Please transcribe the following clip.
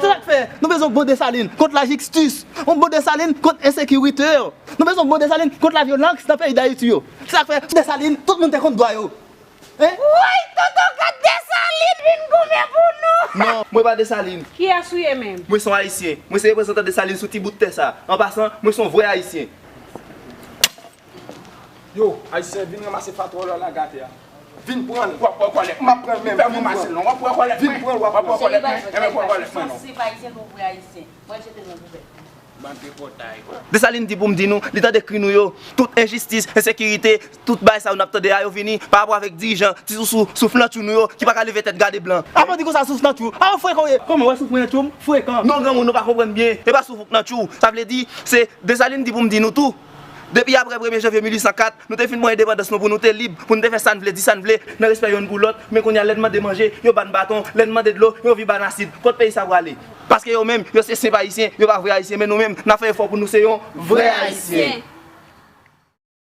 Trak fè, Nou bezwen yon bon Desalin kont lajixtis, yon bon Desalin kont ensekirite, nou bezwen yon bon Desalin kont lavyolanx nan peyi dayiti yo. Trak fè, Sou Desalin, tout moun te konn dwa yo. Woy tonton gad Desalin vin goumen pou nou. Non, mwen pa Desalin. Kiyès ou ye menm? Mwen son Ayisyen. Mwen se reprezantan Desalin sou ti bout tè sa. An pasan, mwen son vrè Ayisyen. Yo ayisyen vin ranmase patwon lòl la gate a vin pranl wap pran kòlèt mwen map pranl menm vin pranl wap pran kòlèt mwen vin pranl wap pran kòlèt mwen ebyen pran kòlèt mwen non. Desalin di pou m di nou, li tande kri nou yo, tout enjistis, ensekirite, tout bagay sa yo n ap tande a yo vini pa rapò avèk dirijan, ti sousou, souflantchou nou yo ki pa ka leve tèt gade blan. A bandi konsa soufnantchou a ou frekan ou ye kòman wè soufrnantchou m frekan. Non granmoun nou pa konprann byen e pa soufrknantchou sa vle di se Desalin di pou m di nou tou. Depi apre premye janvye 1804, nou te fin pran endepandans nou pou nou te lib, pou nou te fè sa n vle, di sa n vle, nan respè yonn pou lòt, men kounye a lè n mande manje, yo ba n baton, lè n mande dlo, yo vin ba n asid. Kot peyi sa prale? Paske yo menm, yo se senp Ayisyen, yo pa vre Ayisyen, men nou menm, n ap fè efò pou nou se yon vrè Ayisyen.